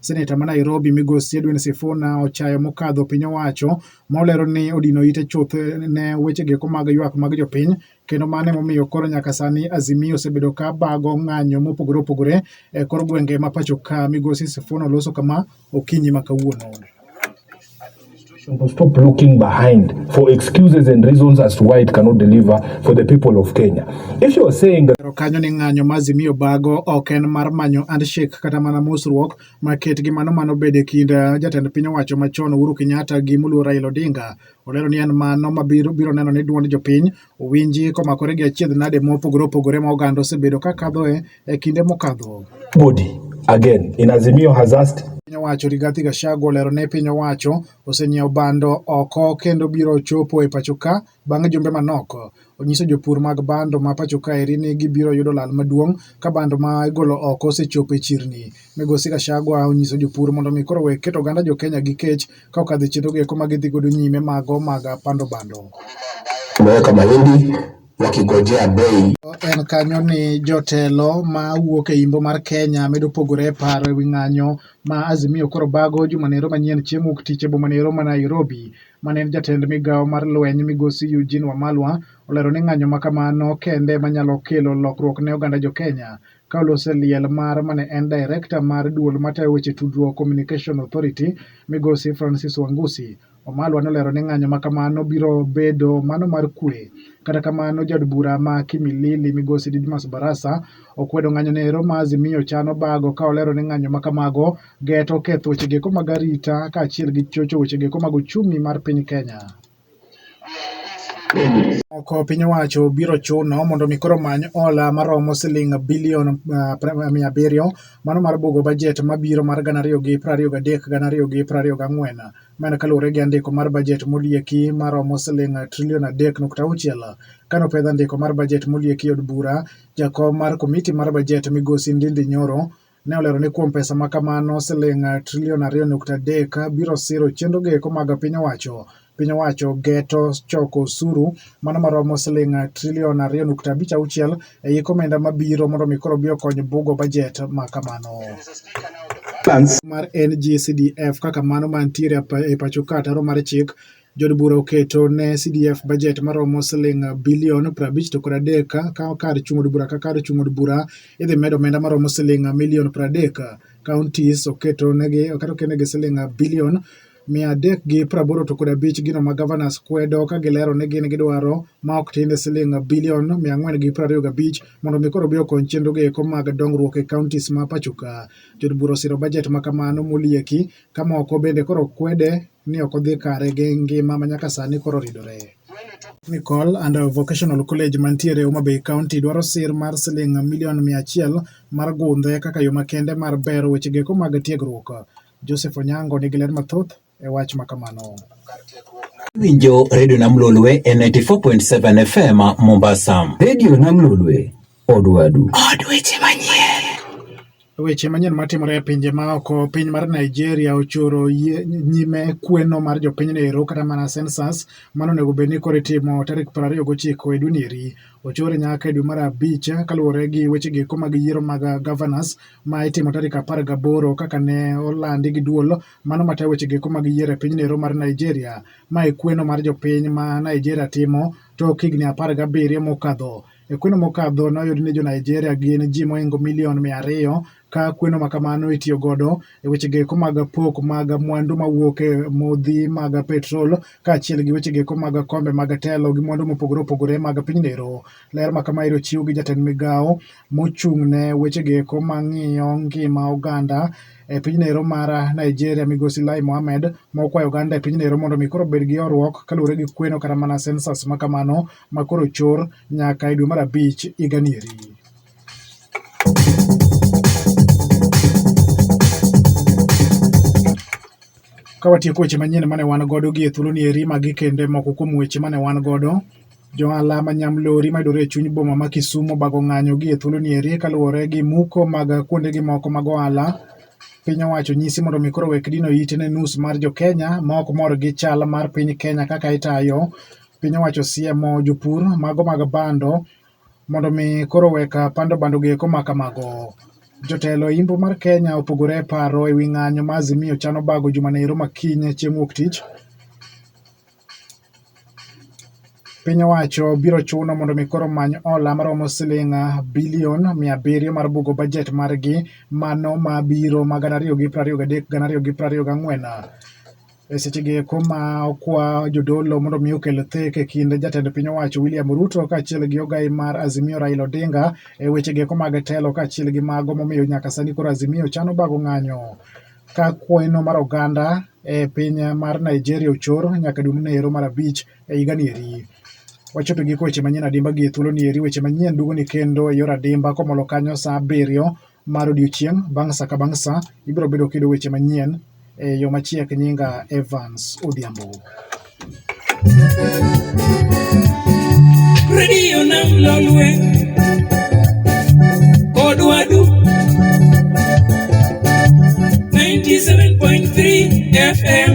Seneta ma Nairobi migosi Edwin Sifuna ochayo mokadho piny owacho ma olero ni odino ite chuth ne weche geko mag ywak mag jopiny kendo mano emomiyo koro nyaka sani Azimio osebedo ka bago ng'anyo mopogore opogore e kor gwenge ma pacho ka. Migosi Sifuna oloso kama okinyi ma kawuono. Administration will stop looking behind for excuses and reasons as to why it cannot deliver for the people of Kenya. If you are saying that kanyo ni ng'anyo ma Azimio bago ok en mar manyo handshake kata mana mosruok maket gi mano mano bede kind eh, jatend piny owacho machon Uhuru Kenyatta gi Muluo Raila Odinga. Olero ni en mano mabiro biro neno ni duond jopiny Owinji komakore gi achiedh nade mopogore opogore ma oganda osebedo ka kadhoe e kinde mokadho. Body again in Azimio has asked piny owacho Rigathi Gachagua olero ne piny owacho osenyiewo bando oko kendo biro chopo e pachoka bang' jumbe manok. Onyiso jopur mag bando ma pachoka eri ni gibiro yudo lal maduong' ka bando ma igolo oko osechopo e chirni. Migosi Gachagua onyiso jopur mondo mi koro wek keto oganda jo Kenya gi kech ka okadhe chenro gi eko ma gidhi godo nyime mago mag pando bando. Tumeweka mahindi wakigojea bei. En kanyo ni jotelo ma wuok e imbo mar Kenya medo pogore e paro ewi ng'anyo ma Azimio koro bago jumanero manyien chieng' wuok tich e bomanero ma Nairobi. Mane en jatend migawo mar lweny migosi Eugene Wamalwa olero ni ng'anyo ma kamano kende manyalo kelo lokruok ne oganda jo Kenya. Carlos Eliel Mar ma ne en direkta mar duol matayo weche tudruok Communication Authority, Migosi Francis Wangusi Wamalwa nolero ni ng'anyo ma kamano biro bedo mano mar kwe. Kata kamano, jaod bura ma Kimilili, Migosi Didmus Barasa okwedo ng'anyono ero ma Azimio chano bago ka olero ni ng'anyo ma kamago geto ketho wechego mag arita kaachiel gi chocho wechego mag ochumi mar piny Kenya. Moko piny owacho biro chuno mondo mi koro omany hola maromo siling' bilion mia abiriyo mano mar bugo bajet mabiro mar gana ariyo gi piero ariyo gadek gana ariyo gi piero ariyo gang'wen. Ma en kaluwore gi andiko mar bajet molieki maromo siling' trilion adek nukta auchiel. Kano pedh andiko mar bajet molieki od bura, jakom mar komiti mar bajet migosi Ndindi Nyoro Ne olero ni kuom pesa ma kamano siling trilion ariyo nukta adek biro siro chenro go eko mag piny owacho. Piny owacho geto choko osuru mano maromo siling trilion ariyo nukta abich auchiel e yik omenda mabiro mondo mi koro bi okony bugo bajet ma kamano. mar NGCDF kaka mano mantiere e pacho ka ataro mar chik Jood bura oketo ne CDF bajet maromo siling bilion 53 to kod adek ka kar chung' od bura ka kar chung' od bura idhi medo omenda maromo siling milion 30. Counties oketo negi oketo kenegi siling bilion mia adek gi praboro to kod abich gino ma governors kwedo ka gilero ni gin gidwaro ma ok tinde siling bilion mia ang'wen gi prariyo gabich mondo mi koro bi okony chenro gi eko mag dongruok e counties ma pachoka. Jod bura osiro bajet ma kamano molieki ka moko bende koro kwede ni ok odhi kare gi ngima ma nyaka sani koro oridore. Technical and Vocational College mantiere Homa Bay County dwaro sir mar siling milion mia achiel mar gundhe kaka yo makende mar bero weche geko mag tiegruok. Joseph Onyango nigi ler mathoth e wach ma kamano. Winjo Radio Namlolwe e 94.7 FM Mombasa. Radio Namlolwe Od wadu. Od weche manyien. Weche manyien matimore e pinje maoko, piny mar Nigeria ochoro nyime kweno mar jopinyno ero kata mana census mano onego bed ni koro itimo tarik piero ariyo gochiko e dweni eri ochore nyaka e dwe mar abich kaluwore gi weche giko mag yiero mag governors ma itimo tarik apar gaboro kaka ne olandi gi duol mano matayo weche giko mag yiero e pinyno ero mar Nigeria ma e kweno mar jopiny ma Nigeria timo tok higni apar gabiriyo mokadho E kweno mokadho noyud ni jo-Nigeria gin ji mohingo milion mia ariyo ka kweno makamano itiyo godo e wechego eko mag pok mag mwandu mawuok e modhi mag petrol kaachiel gi wechego eko mag kombe mag telo gi mwandu mopogore opogore mag pinyno ero. Ler ma kama ero chiw gi jatend migawo mochung' ne wechego eko mang'iyo ngima oganda e pinyno ero mar Nigeria migosi Lai Mohammed ma okwayo oganda e pinyno ero mondo mi koro obed gi horuok kaluwore gi kweno kata mana census makamano ma koro chor nyaka e dwe mar abich higani eri. Ka watieko weche manyien mane wan godo gi e thuoloni eri magi kende moko kuom weche mane wan godo jo ohala ma nyamlori mayudore e chuny boma ma Kisumu obago ng'anyo gi e thuoloni eri kaluwore gi muko mag kuondegi moko mag ohala piny owacho nyisi mondo mi koro wek dino ite ne nus mar jokenya ma ok mor gi chal mar piny Kenya kaka itayo Piny owacho osiemo jopur mago mag bando mondo mi koro wek pando bando gi eko ma kamago. Jotelo e Imbo mar Kenya opogore e paro e wi ng'anyo ma Azimio chano bago juma ne ero makiny chieng' wuok tich. Piny owacho biro chuno mondo mi koro many ola maromo siling bilion mia abiriyo mar bugo bajet margi mano ma biro ma gana ariyo gi prariyo gadek gana ariyo gi prariyo gang'wen. E seche gi eko ma okwa jodolo mondo mi okel thek e kind jatend piny owacho William Ruto kaachiel gi ogai mar Azimio Raila Odinga e weche gi eko mag telo kaachiel gi mago momiyo nyaka sani koro Azimio chano bago ng'anyo ka kweno mar oganda e piny mar Nigeria ochor nyaka dwe mane ero mar abich e higa ni eri. Wachopo giko weche manyien adimba gi e thuolo ni eri weche manyien duogo ni kendo e yor adimba komolo kanyo saa abiriyo mar odiechieng' bang' sa ka bang' sa, ibiro bedo kiyudo weche manyien e yo machiek. Nyinga Evans Odhiambo. Radio Nam Lolwe, Odwadu, 97.3 FM.